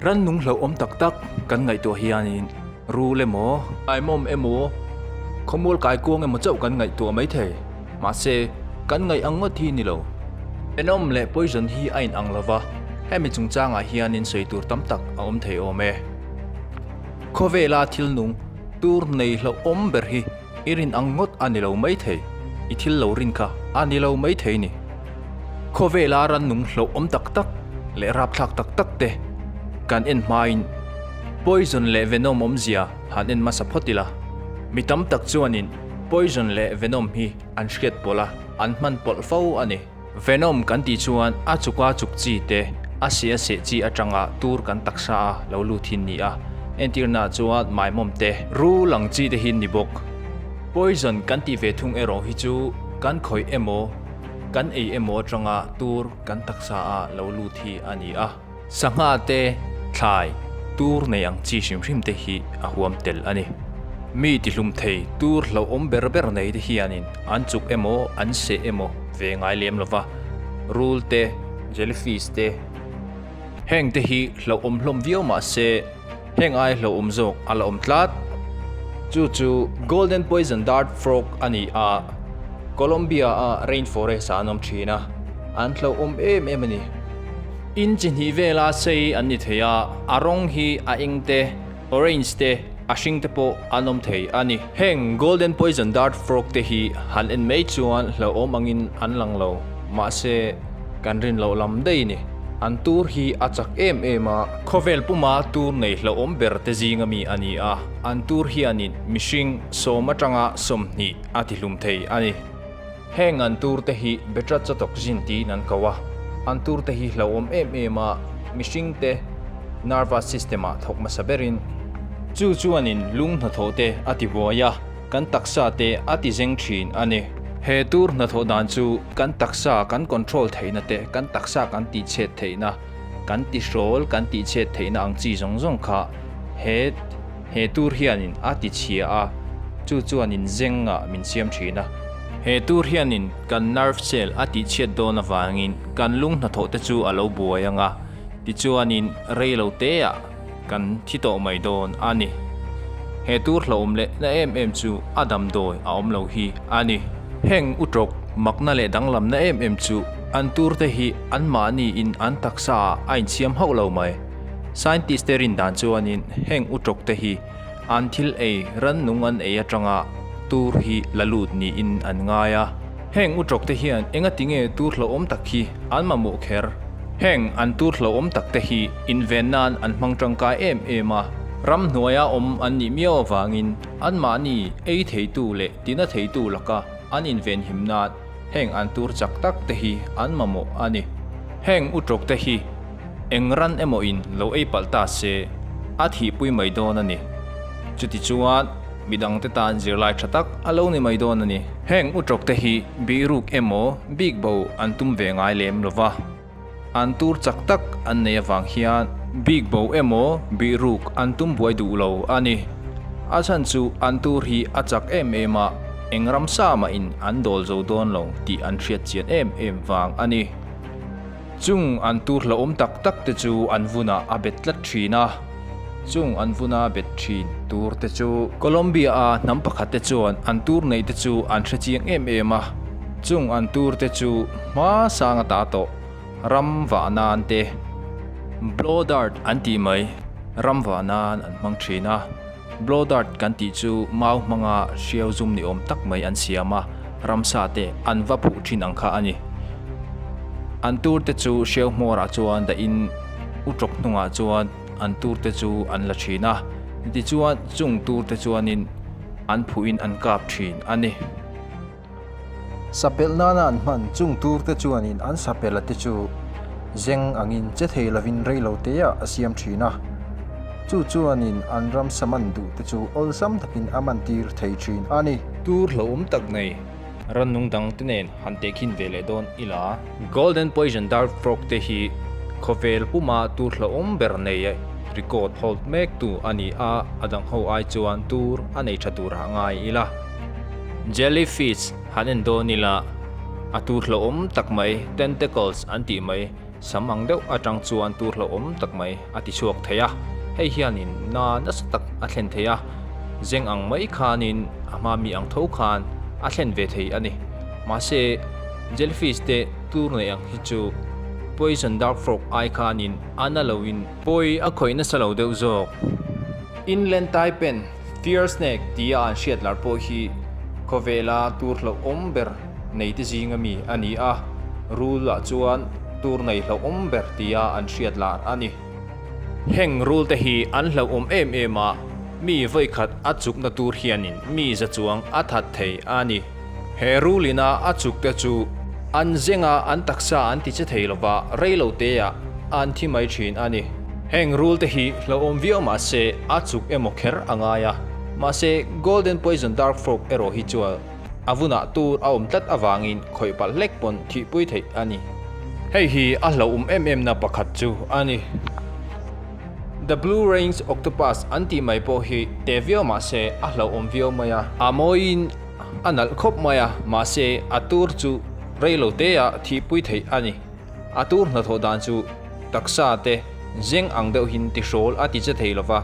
Ran nung hlauhawm tak tak kan ngaihtuah hianin ru le maw, aimawm emaw, khawmual kai kuang emaw chauh kan ngaihtuah mai thei. Mahse, kan ngaih ang ngawt hi ni lo. Enawm leh poison hi a inang lo va, hemi chungchangah hianin sawi tur tam tak a awm thei awm e. Khawvela thilnung tur nei hlauhawm ber hi, I rin ang ngawt a ni lo maithei, i thil lo rin kha a ni lo maithei ni. Khawvela rannung hlauhawm tak tak leh rapthlak tak tak te kan en hmain poison leh venom awmzia han en hmasa phawt ila, mi tam tak chuanin poison leh venom hi an hriat pawlh a, an hman pawlh fo a ni. Venom kan tih chuan a chuka chuk chi te a seh a seh chi atanga tur kan taksa a lo lut hi ni a, entirna chuan maimawm te ru lang chi te hi ni bawk. Poison kan tih ve thung erawh hi chu kan khawih emaw kan ei emaw atanga tur kan taksa a lo lut hi a ni a. Sangha te, thlai, tur nei ang chi hrim hrim te hi a huam tel a ni. Mi tihlum thei tur hlauhawm ber ber nei te hianin an chuk emaw an seh emaw ve ngai lem lo va. Rul te, jellyfish te, heng te hi hlauhawm hlawm viau mah se, Heng ai hlauhawm zawk a la awm tlat. Chu chu Golden Poison Dart Frog a ni a, Colombia-a rainforest-ah an awm thin a, an hlauhawm em em a ni. In chi hnih vela sei an ni thei a, a rawng hi a eng te, orange te, a hring te pawh an awm thei a ni. Heng Golden Poison Dart Frog te hi han en mai chuan hlauhawm angin an lang lo, mahse kan rin loh lam daih ni, an tur hi a chak em em a. Khawvel puma tur nei hlauhawm ber te zinga mi a ni a, an tur hianin mihring sawm atanga sawmhnih a tihlum thei a ni. Heng an tur te hi Betra Chawtawk Zin tiin an ko a, an tur te hi hlauhawm em em a, mihring te Nervous System ah thawk hmasa ber in. Chu chuan in lung hnathawh te a ti buai a, kan taksa te a ti zeng thin a ni. He tur hnathawh dan chu kan taksa kan control theihna te kan taksa kan tihchhet theihna Kan tihrawl kan tihchet theihna ang chi zawng zawng kha he he tur hianin a tichhia a, chu chuan in zengah min siam thin a. He tur hianin kan nerve cell a tihchhiat dawn avangin kan lunghnathawhte chu a lo buai ang a, tichuanin reiloteah Kan thi tawh mai dawn a ni. He tur hlauhawm leh na em em chu a damdawi a awm lo hi a ni. Heng u tawk makna leh danglamna em em chu an tur te hi anmahni in an taksa ah a insiam hauh lo mai. Scientist te rindan chuan in heng u tawk te hi, An thil ei rannung an ei atanga tur hi la lut niin an ngai a. Heng u tawkte hian engatinge tur hlauhawm tak hi an mamawh kher? Heng an tur hlauhawm takte hi inven nan an hmang tangkai em em a, ram hnuaia awm an nih miau avangin anmahni ei theitu leh tina theitu laka an invenhim nan Heng an tur chak tak te hi an mamawh a ni. Heng u tlawk te hi eng ran emaw in lo ei palh ta se a thih pui mai dawn a ni. Chuti chuan midang te tan zirlai tha tak a lo ni mai dawn a ni. Heng u tlawk te hi bihruk emaw bikbo an tum ve ngai lem lo va. An tur chak tak an nei avang hian bik bo emaw bih ruk an tum buai duh lo a ni. A chhan chu an tur hi a chak em em a, eng ram sa mahin an dawl zo dawn lo tih an hriatchian em em vang a ni. Chung an tur hlauhawm tak tak te chu an vunah a bet tlat thin a. Chung an vun a bet thin tur te chu. Colombia a hnam pakhat te chuan an tur neih te chu an hre chiang em em a, chung an tur te chu hma sang a ta tawh, ram vah nan te, blow dart an tih mai, ram vah nan an hmang thin a. Blow dart kan tih chu mau hmanga hriau zum ni awm tak mai an siam a, ramsa te an va phuh thin ang kha a ni. An tur te chu hriau hmawrah chuan dahin u tawp hnungah chuan an tur te chu an la thin a, tichuan chung tur te chuanin an phuhin an kap thin a ni. Sapelh nana an hman chung turte chuanin an sapelh a te chu zeng angin che thei lovin rei lo teah a siam thin a. Chu chuanin an ramsa man duhte chu awlsam takin a man tir thei thin a ni. Tur hlauhawm tak nei rannung dangte nen han tehkhin ve leh dawn ila. Golden Poison Dart Frog te hi khawvel puma tur hlauhawm ber neia record hold mek tu a ni a, a dangho ai chuan tur a nei tha turah a ngai ila. Jellyfish han en dawn ila, a tu hlauhawm tak mai, tentacles an tih mai, sam ang deuh atang chuan tu hlauhawm tak mai a ti chhuak thei a, hei hianin na nasa tak a thlen thei a, zeng ang mai khanin a hma mi ang tho khan a thlen ve thei a ni. Mahse, Jellyfish te tur neih ang hi chu Poison Dark Frog ai khanin a na loin, pawi a khawih nasa lo deuh zawk, Inland Taipan Fear snake tia an hriat lar pawh hi khawvela tur hlauhawm ber neite zinga mi a ni a, rule ah chuan tur nei hlauhawm ber tia an hriat lar a ni. Heng rule te hi an hlauhawm em em a, mi vawikhat a chukna tur hianin mi za chuang a that thei a ni. He rule ina a chuk te chu an zeng a an taksa an ti che thei lo va, rei lo te ah an thi mai thin a ni. Heng rule te hi hlauhawm viau mah se a chuk emaw kher a ngai a, mahse Golden Poison Dark Frog erawh hi chuan a vun ah tur a awm tlat avang in khawih palh hlek pawn thih pui theih a ni. Hei hi a hlauhawm em em na pakhat chu a ni. The Blue Rain's Octopus an tih mai pawh hi te viau mah se a hlauhawm viau mai a. A mawi in A nalh khawp mai a, mahse a tur chu rei lo teah thihpui theih a ni. A tur hnathawh dan chu taksa te zeng ang deuhin ti hrawl a ti che thei lo va,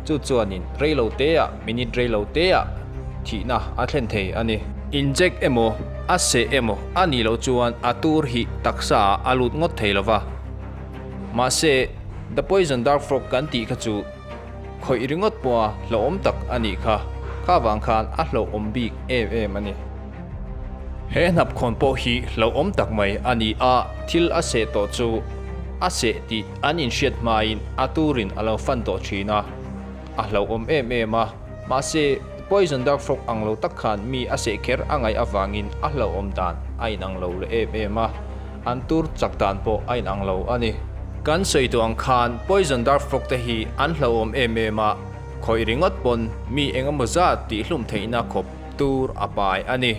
chu chuanin rei lo teah, minute rei lo teah thihna a thlen thei a ni. Inject emaw, a seh emaw a nih loh chuan a tur hi taksaah a lut ngawt thei lo va, mahse The Poison Dart Frog kan tih kha chu, Khawih ringawt pawha hlauhawm tak a nih kha, kha avang khan a hlauhawm bik em em a ni. He hnapkhawn pawh hi hlauhawm tak mai a ni a, thil a seh tawh chu a seh tih an inhriat hmain a turin a lo fan tawh thin a, a hlauhawm em em a. Mahse, poison dark frog ang lo tak khan mi a seh kher a ngaih avangin a hlauhawm dan a inang lo leh em em a, an tur chak dan pawh a inang lo a ni. Kan sawi tawh ang khan poison dark frog te hi an hlauhawm em em a, khawih ringawt pawn mi engemaw zat tihhlum theihna khawp tur a pai a ni.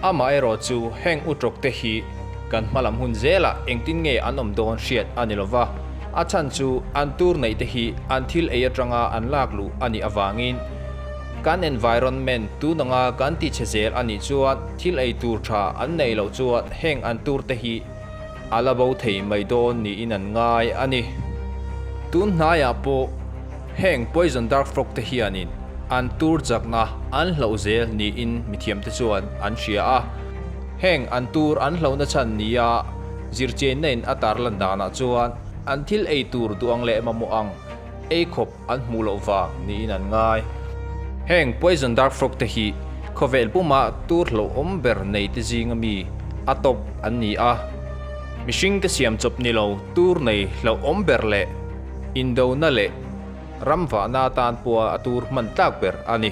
Amaherawh chu heng u ṭawk te hi kan hmalam hun zela engtin nge an awm dawn hriat a ni lo va, a chhan chu an tur neih te hi an thil ei aṭanga an lak luh a nih avangin kan environment tunanga kan tichhe zel a nih chuan thil ei tur ṭha an neih loh chuan heng an tur te hi A la bo thei mai dawn niin an ngai a ni. Tun hnaiah pawh heng poison dart frog te hianin an tur chakna an hloh zel niin mithiamte chuan an hria a. Heng an tur an hlohna chhan nia zirchenna in a tarlan danah chuan an thil ei tur duh ang leh mamawh ang ei khawp. An hmuh loh vang niin an ngai. Heng poison dart frog te hi khawvel puma tur hlauhawm ber nei te zinga mi a top an ni a. Mihring te siam chawp ni lo tur nei hlauhawm ber leh indona leh ramvahna atan pawha a tur hman tlak ber a ni.